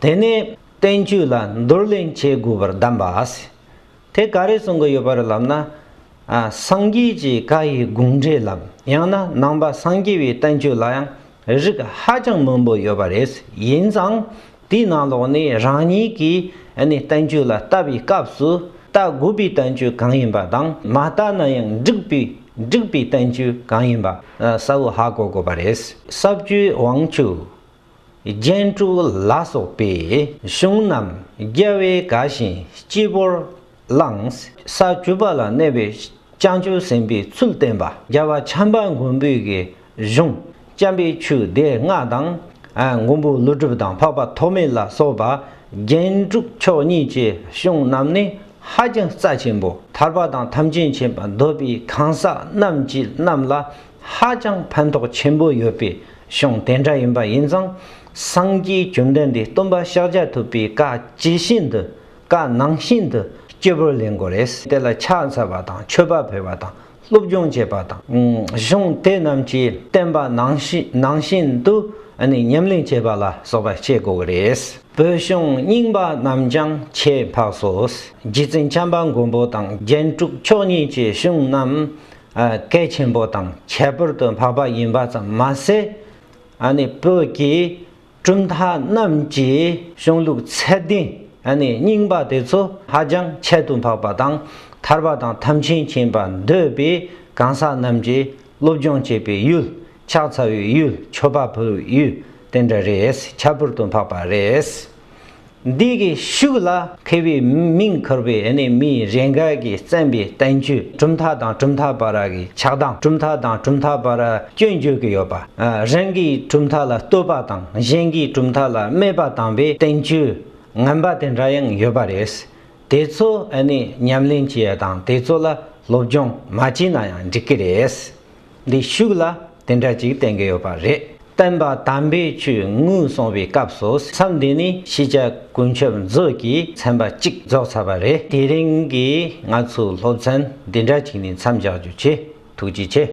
དེ་ནས་བསྟན་བཅོས་ལ་འདུར་ལེན་བྱེད་དགོས་པར་གདམས་པ་ཨ་སི། དེ་ག་རེ་གསུང་གི་ཡོད་པ་རེད་ལབ་ན། སངས་རྒྱས་ཀྱི་བཀའ་ཡི་དགོངས་འགྲེལ་ལམ་ཡང་ན་ནང་པ་སངས་རྒྱས་པའི་བསྟན་བཅོས་ལ་ཡང་རིགས་ཧ་ཅང་མང་པོ་ཡོད་པ་རེད་ཡིན་ཙང་དེའི་ནང་ལོགས་ནས་རང་ཉིད་ཀྱི་བསྟན་བཅོས་ལ་ལྟ་བའི་སྐབས་སུ་ལྟ་དགོས་པའི་བསྟན་བཅོས་གང་ཡིན་པ་དང་མ་ལྟ་ན་ཡང་འགྲིག་པའི་འགྲིག་པའི་བསྟན་བཅོས་གང་ཡིན་པ་གསལ་བོ་ཧ་གོ་དགོས་པ་རེད། ས་བཅུའི་དབང་ཕྱུག། རྒྱན་དྲུག་ལ་སོགས་པའི་གཞུང་རྣམས་རྒྱལ་བའི་དགའ་ཞིང་སྤྱི་བོར་བླངས། ས་བཅུ་པ་ལ་གནས་པའི་བྱང་ཆུབ་སེམས་དཔའི་ཚུལ་བསྟན་པ། རྒྱལ་བ་བྱམས་པ་མགོན་པོའི་གཞུང། བྱམས་པའི་ཆོས་སྡེ་ལྔ་དང། མགོན་པོ་ཀླུ་སྒྲུབ་དང་འཕགས་པ་ཐོགས་མེད་ལ་སོགས་པ་རྒྱན་དྲུག་མཆོག་གཉིས་ཀྱི་གཞུང་རྣམས་ནི་ཧ་ཅང་རྩ་ཆེན་པོ་ཐར་པ་དང་ཐམས་ཅད་མཁྱེན་པ་འདོད་པའི་གང་ཟག་རྣམས་ཀྱི་རྣམས་ལ་ཧ་ཅང་ཕན་ཐོགས་ཆེན་པོ་ཡོད་པའི་གཞུང་དེ་འདྲ་ཡིན་པ་ཡིན་ཙང་སངས་རྒྱས་བཅོམ་ལྡན་འདས་སྟོན་པ་ཕྱག་རྒྱ་ཐུབ་པའི་བཀའ་ཇི་བཞིན་དུ་བཀའ་ནང་བཞིན་དུ་སྐྱེ་བོར་ལེན་དགོས་རེད། དེ་ལ་ཕྱག་འཚལ་བ་དང་མཆོད་པ་འཕེལ་བ་དང་སློབ་སྦྱོང་བྱེད་པ་དང། གཞུང་དེ་རྣམས་ཀྱིས་བསྟན་པ་ནང་བཞིན་དུ་ཉམས་ལེན་བྱེད་པ་ལ་སོགས་པ་བྱེད་དགོས་རེད། བོད་གཞུང་རྙིང་པ་རྣམས་ཀྱང་ཆེས་འཕགས་སོ། རྗེ་བཙུན་བྱམས་པ་མགོན་པོ་དང་རྒྱན་དྲུག་མཆོག་གཉིས་ཀྱི་གཞུང་རྣམས་གལ་ཆེན་པོ་དང་ཁྱད་པར་དུ་འཕགས་པ་ཡིན་པ་ཙམ་མ་ཟད། བོད་ཀྱི་གྲུབ་མཐའ་རྣམས་ཀྱི་གཞུང་ལུགས་ཚད་ལྡན་རྙིང་པ་དེ་ཚོ་ཧ་ཅང་ཁྱད་དུ་འཕགས་པ་དང་ཐར་པ་དང་ཐབས་ཆེན་མཁྱེན་པ་འདོད་པའི་གང་ཟག་རྣམས་ཀྱིས་སློབ་སྦྱོང་བྱེད་པའི་ཡུལ་ཕྱག་འཚལ་བའི་ཡུལ་མཆོད་པ་ཕུལ་བའི་ཡུལ་དེ་འདྲ་རེད་ཁྱད་པར་དུ་འཕགས་པ་རེད། འདི་གའི་ཤུགས་ལ་ཁེལ་བའི་མིང་འཁུར་བའི་གནས་མིའི་རེ་འགས་ཀྱིས་བརྩམས་པའི་བསྟན་བཅོས་གྲུབ་མཐའ་དང་གྲུབ་མཐའ་བར་གྱི་ཆགས་སྡང་གྲུབ་མཐའ་དང་གྲུབ་མཐའ་བར་སྐྱོན་བརྗོད་ཀྱི་ཡོད་པ། རང་གིས་གྲུབ་མཐའ་ལ་བསྟོད་པ་དང་གཞན་གྱིས་གྲུབ་མཐའ་ལ་སྨད་པ་དམ་པའི་བསྟན་བཅོས་ངན་པ་དེ་འདྲ་ཡང་ཡོད་པ་རེད། དེ་ཚོ་ནི་ཉམས་ལེན་བྱས་དང་དེ་ཚོ་ལ་སློབ་སྦྱོང་མ་བྱས་ན་ཡང་འགྲིག་གི་རེད། ལས་ཞུགས་ལ་དེ་འདྲ་ཅིག་བསྟན་གྱི་ཡོད་པ་རེད། བསྟན་པ་དམ་པའི་ཆོས་དངུལ་གསོང་བའི་སྐབས་སུ་མཚམས་འདི་ནས་ཤེས་བྱ་ཀུན་མཆོད་མཛོད་ཀྱི་ཚན་པ་གཅིག་རྫོགས་ཚར་བ་རེད། དེ་རིང་གི་ང་ཚོའི་སློབ་ཚན་འདི་འདྲ་ཅིག་ནས་མཚམས་བཞག་རྒྱུ་ཆེ་ཐུགས་རྗེ་ཆེ།